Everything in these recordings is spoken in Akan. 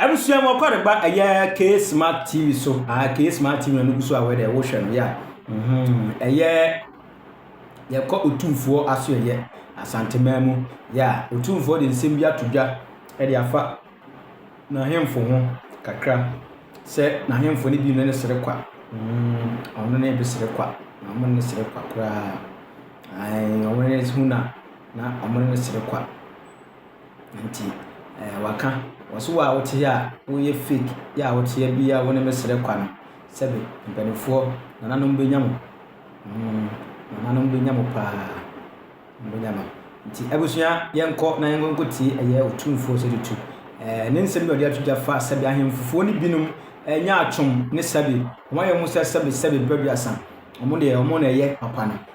Abusua mu ɔkɔre ba ɛyɛ K Smart TV so aa ah, K Smart TV na nugu so a wɔde ɛwohwɛ no yɛ mhm, a ɛyɛ yɛkɔ otumfoɔ aso ɛyɛ asantemaa mu yɛ a otumfoɔ de nsɛm bi ato dwa ɛde afa n'ahemfo ho kakra sɛ n'ahemfo no bi no ne sere kwa mhm, ɔno ne bi sere kwa na ɔmo ne sere kwa koraa ɔmo ne ho na na ɔmo ne sere kwa. nti ɛɛ waka. Wɔsi wo a wote ha a woyɛ fake yi a wote ha bi a wo ne me srɛ kwa no, sɛbe mpaninfoɔ nananom bɛnya mo. Hmm, nananom bɛnya mo paa, wɔbɛnya mo. Nti abusua yɛnkɔ na yɛnkɔ tie ɛyɛ otumfoɔ sɛ tutu. Ɛɛ ne nsɛm bi a ɔde ato dwa fa sɛbe ahemfofoɔ no binom ɛnyɛ atwom ne sɛbe wɔn ayɛ wɔn sɛ sɛbe sɛbe berɛ aduasa wɔn deɛ wɔn na ɛyɛ papa no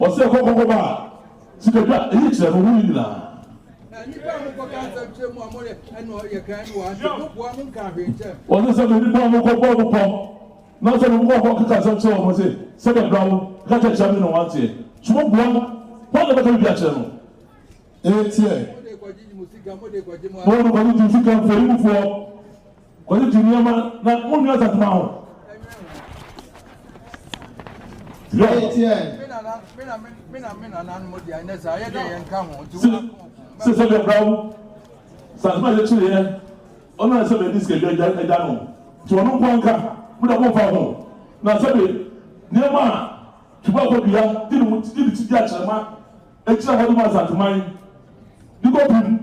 Ɔsɛ kɔ kɔ kɔba sika dwa eyi kyerɛ no ho yi nyinaa. Ɔsɛ sɛ me nipa mo kɔ bɔ mo kɔ na sɛ mo kɔ kɔ keka asɛm kyerɛ wɔn se sɛ bɛ bra wo ka kyɛ kyerɛ me na wɔn ateɛ so mo boa no wɔn na bɛka bibi akyerɛ no eteɛ mo de kɔgye di sika mfɛyi mu foɔ. Kɔdze gye nneɛma na wo nua dza dwuma ho. Sɛ sɛ bia bra wo dza dwuma yɛ kyere yɛ ɔno na sɛ bia ne sika dwa dwa dwa no nti ɔno nkoa nka mo dɛ mo mfa ho na sɛ be nneɛma a dwuma kɔ dua gye ne ho gye ne ti dua kyerɛ ma ekyira hɔ dwuma dza dwuma yi ne kɔ pim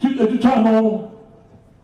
twi etwitwa no.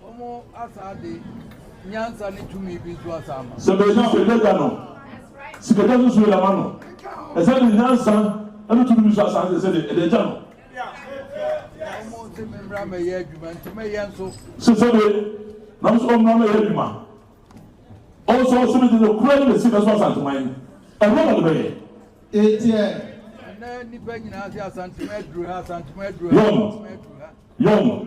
Wɔasan de nyansa ne tumi bi nso asan ama. Sɛ bɛnya fɛdɛga no, sikagya nso so yɛ ama no. Ɛsan de nyansa ne tumi bi nso asan de sɛdeɛ ɛde agya no. Wɔse memmra mɛyɛ adwuma, nti mɛyɛ nso. Se sɛbe, nanso ɔmmra mɛyɛ adwuma. Ɔnso ɔse mede nokorɛ ne Mesia bɛso Asanteman, ɛhɔ na mebɛyɛ. Eteɛ. Ɛnnɛ nnipa nyinaa se Asanteman aduru ha, Asanteman aduru ha, Asanteman aduru ha. Yɔn.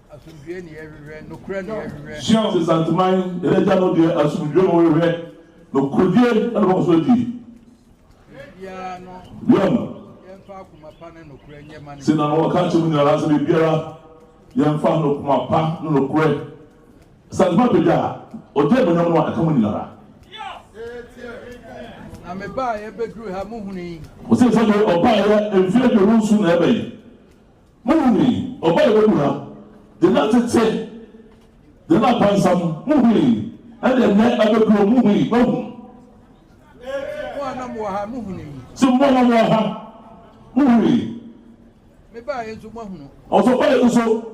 Asomdwoeɛ na yɛhwehwɛ, nokorɛ na yɛhwehwɛ. Sion nsesanteman, yɛn Agya no deɛ, asomdwoeɛ na wɔhwehwɛ, nokorɛdie na wɔbɛkɔ so adi. Biribiara no, Biom, yɛmfa akoma pa ne nokorɛ nyɛ ma no. sei na na wɔka akyerɛ mo nyina ara sɛ, Biribiara, yɛmfa nokoma pa ne nokorɛ. Asanteman apagya a ɔgye animuonyam no a ɛka mo nyina ara. Na mebaeɛ bɛduruu ha, mohunui. Wɔsee sɛdeɛ ɔbaeɛ mfeɛ aduonu nson na ɛbɛn, Muhui, ɔba a wawu ha, de na tete, de na pansam, muhui, ɛde ɛnnɛ abɛduro, muhui, mahu. Mo a na mowɔ ha, muhunui. So mo a na mowɔ ha, muhui. Mebaeɛ nso, moahunu. Ɔsɔbaeɛ nso.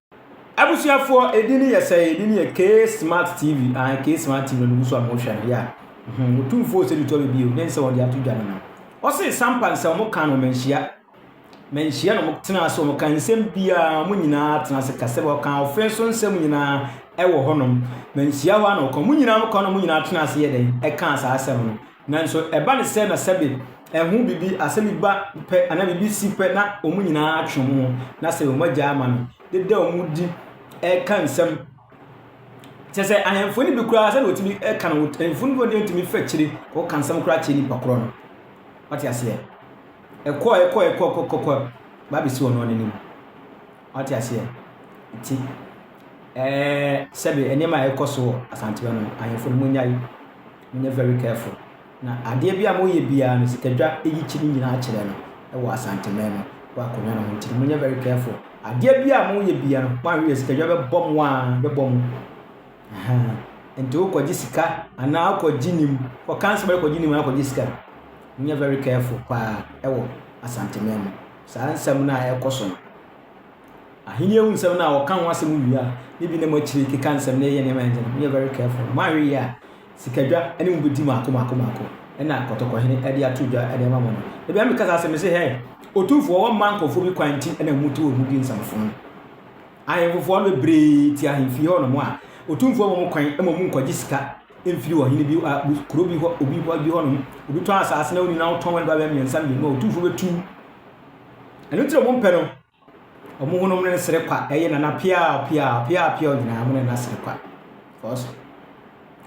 Abusuafoɔ ɛdin no yɛ sɛn ɛdin no yɛ K smart TV ahan K smart TV na no gusu a mo hwɛ no yɛ hmm mo tumfoɔ sɛ tutu abɛbi o den sɛ wɔde ato dwa no no ɔse sampa nsɛm mo ka no manhyia manhyia na mo tena ase wɔn ka nsɛm biara mo nyinaa tena ase ka sɛ wɔka ɔfɛn so nsɛm nyinaa ɛwɔ hɔnom manhyia hɔ a na ɔka mo nyinaa mo ka no mo nyinaa tena ase yɛ dɛn ɛka saa asɛm no Nanso ɛba no sɛ na sɛbe ɛho biribi, asɛm bi ba pɛ anaa biribi si pɛ na wɔn nyinaa atwe wɔn ho na sɛ wɔn agya ama no deda wɔn di ɛka nsɛm. Kyɛ sɛ ahemfo no bi koraa sɛdeɛ wɔtumi ɛka no, ahemfo no bi wɔtumi fa akyire kɔka nsɛm koraa kyerɛ nipa korɔ no. Wate aseɛ? Ɛkɔ ɛkɔ ɛkɔ kɔkɔkɔ baabɛsi wɔn anim. Wate aseɛ? Nti, ɛɛ, sɛbe nneɛma a ɛkɔ so wɔ Asantewa no, ahemfo no, monyae, monyɛ very careful. Na adeɛ bi a moyɛ biara no, sikadwa yi kyi ne nyinaa kyerɛ no wɔ Asanteman mu, wɔ akonnwa no ho. Nti no, monyɛ very careful. Adeɛ bi a moyɛ biara no, moanhwɛ yie, sikadwa bɛbɔ mo a, bɛbɔ mo. Ahaa. Nti wokɔgye sika, anaa wokɔgye nim, kɔka nsɛm a wokɔgye nim, anaa wokɔgye sika. Monyɛ very careful paa wɔ Asanteman mu. Saa nsɛm no a ɛrekɔ so no, Ahenni ahu nsɛm no a wɔka ho asɛm wie a, ne bi na moakyiri keka nsɛm na ɛyɛ nneɛma a ɛnyɛ no. Monyɛ very careful na moanhwɛ yie a, sikadwa ne mo bɛdi mmaako mmaako mmaako, ɛna kɔtɔkɔhene de ato dwa de ama mo no. Da biara meka saa asɛm yi sɛ, hɛ, otumfoɔ, wɔmma nkurɔfoɔ bi kwan nti na mote wɔn mu di nsɛmfo no. Ahemfofoɔ no bebree te ahemfie hɔnom a, otumfoɔ ma mo kwan ma wɔn mu nkwagye sika mfiri ɔhene bi a kuro bi hɔ obi hɔ bi hɔnom obi tɔn asaase na ɔnyina wotɔn wɛn babɛ mmiɛnsa mmienu a ɔtumfoɔ bɛtu ɛno tiri ɔmo mpɛ no ɔmo honom ne sere kwa ɛyɛ nana pia pia pia pia ɔnyinaa mo ne na sere kwa because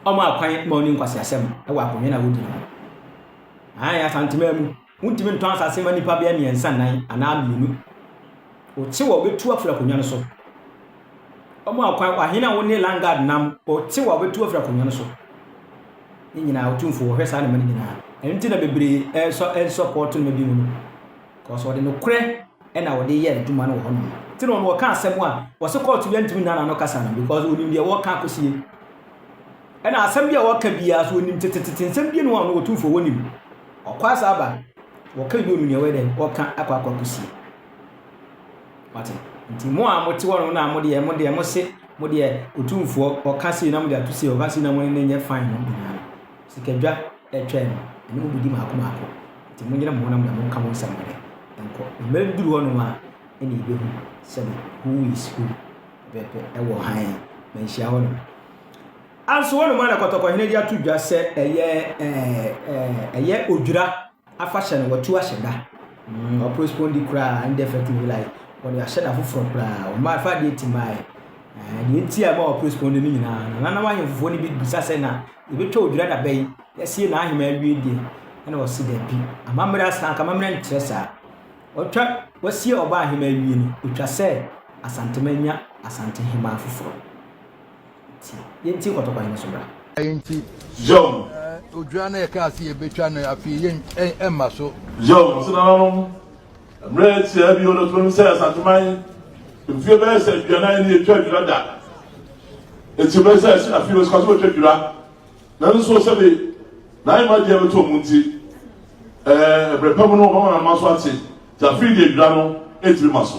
ɔmo akwan ma ɔne nkwasi asɛm ɛwɔ akonnwa na wodi no ayɛ asantema mu Wontumi ntɔn asase mma nnipa bɛyɛ mmiɛnsa nnan anaa mmienu. Wote wɔ wobetu afiri akonnwa no so. Wɔn a kwan ahene a wɔne Lungard nam wɔte wɔ wobetu afiri akonnwa no so. Ne nyinaa otumfo wɔhwɛ saa nneɛma no nyinaa. Ɛno nti na bebree ɛsɔ ɛsɔ pɔɔto nneɛma bi mu no. Kɔsɔ wɔde nokorɛ ɛna wɔde yɛ adwuma no wɔ hɔ nom. Ti na wɔn wɔka asɛm a wɔsi kɔɔto bi antumi nna n'ano kasa no because onim deɛ wɔka akosie. Ɛna asɛm bi a wɔka biara so wɔnim tetetete nsɛm bi no a ɔno wɔtumfoɔ wɔnim ɔkɔ asa aba wɔka bi ɔnim nea wɔyɛ dɛn wɔka akɔ akɔ akɔsie wate nti mo a mote hɔ no na mo deɛ mo deɛ mo se mo deɛ ɔtumfoɔ ɔka sei na mo deɛ ato sei ɔka sei na mo ne ne nyɛ fan no nyinaa no sikadwa ɛtwa no ɛne mo bɛdi maako maako nti mo nyina mo ho na mo deɛ mo nka mo nsɛm dɛ ɛnkɔ mmerɛ duru hɔ nom a ɛne yɛbɛhu sɛne who is who pɛpɛ ɛwɔ hann manhyia hɔ nom Nanso hɔnom ara na Kɔtɔkɔhene de ato dwa sɛ ɛyɛ ɛɛ ɛyɛ odwira afahyɛ no wɔatu ahyɛ da. Mm, ɔporespondi koraa ndɛ fɛtu hela yi wɔde ahyɛ da foforɔ koraa wɔn afa adeɛ ti maa yɛ. Deɛ nti a ɛma ɔporespondi no nyinaa no nananom ahemfofoɔ no bi bisa sɛ na yɛbɛtwa odwira da bɛyi yɛasie na ahema awie deɛ ɛna wɔsi daabi amammerɛ asan aka amammerɛ nkyerɛ saa ɔtwa wɔasie ɔba ahema awie no ɔtwa sɛ asantema nya asante hema foforɔ. Nti, yɛnti nkɔtɔkwa no so bra. Nti, odwa no yɛkaa sɛ yɛbɛtwa no afei yɛn ɛmma so. Yo, nso nananom, mmerɛ atia bio no tumi sɛ Asanteman mfie bɛyɛ sɛ aduanan ne yɛtwa adwira da. Nti bɛyɛ sɛ ɛsi afei bɛsikwa so bɛtwa adwira. Nanso sɛbe na ayɛ ma deɛ bɛtɔ mu nti, ɛɛ, mmerɛ pa mu no wɔbɛma nananom aso ate. Nti afei deɛ adwira no ɛtumi ma so.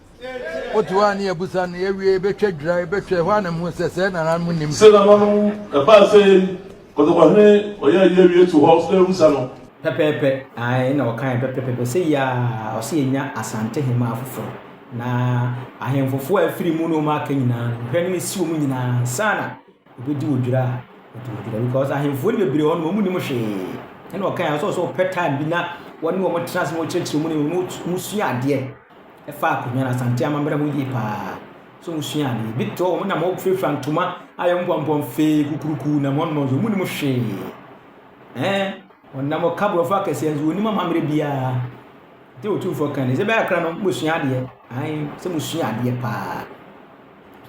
Wote hɔ a ne yɛabisa no, yɛawie, yɛbɛtwa dwira, yɛbɛtwa ɛhɔ a na mehu sɛ sɛɛ nananom nnim. Sɛ nananom ɛbaa sɛ yɛn kɔtɔkɔhene ɔyɛ ayi awie to hɔ sɛ yɛbisa no. Pɛpɛɛpɛ, ae, ɛna ɔkaeɛ pɛpɛpɛpɛ, sei ara, ɔse yɛnya Asantehemaa foforɔ, na ahemfofoɔ a afiri mu ne wɔn aka nyinaa no, hwɛ no ɛsi wɔn nyinaa ansa na. Obedi wo dwira a ɔdi wo dwira because ahemfo no bebree hɔ no wɔn nim hwee ɛna ɔka yɛn sɛ sɛ ɔpɛ time bi na wɔne wɔn tena ase na wɔkyerɛkyerɛ mu ne wɔn sua adeɛ ɛfa akonnwa no asante amammerɛ ho yie paa so wɔn sua adeɛ bi tɔ wɔn nam wɔfurafura ntoma ayɛ wɔn pɔmpɔn fee kukuruku nam wɔn nɔɔso wɔn nim hwee ɛɛ wɔnam ɔka borɔfo akɛseɛ nso wɔn nim amammerɛ biara te otumfoɔ kan ne sɛ bɛyɛ akra no wɔn sua adeɛ ahan sɛ wɔn sua adeɛ paa.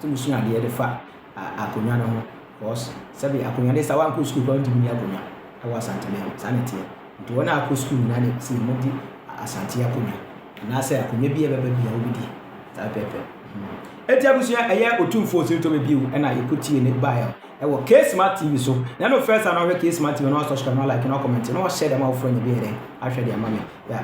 Sɛ musua adeɛ de fa akonnwa no ho because sɛbe akonnwa deɛ sɛ woankɔ sukuu koraa wontumi nni akonnwa wɔ Asanteman mu, saa na ɛteɛ. Nti wɔn a wɔkɔ sukuu nyinaa na ɛsɛ sɛ wɔdi Asante akonnwa anaasɛ akonnwa biara a ɛbɛba biara wobɛdi. Saa pɛpɛɛpɛ. Enti abusua, ɛyɛ Otumfoɔ Osirintɔbɛ bio na yɛkɔtiee ne baeɛ no ɛwɔ K-Smart TV so. Na ɛno first time na wohwɛ K-Smart TV a na wasubscribe, na wa like, na wa comment, na wa share de ama wofoɔ a na ɛbɛyɛ dɛn ahwɛ de ama me. Yeah.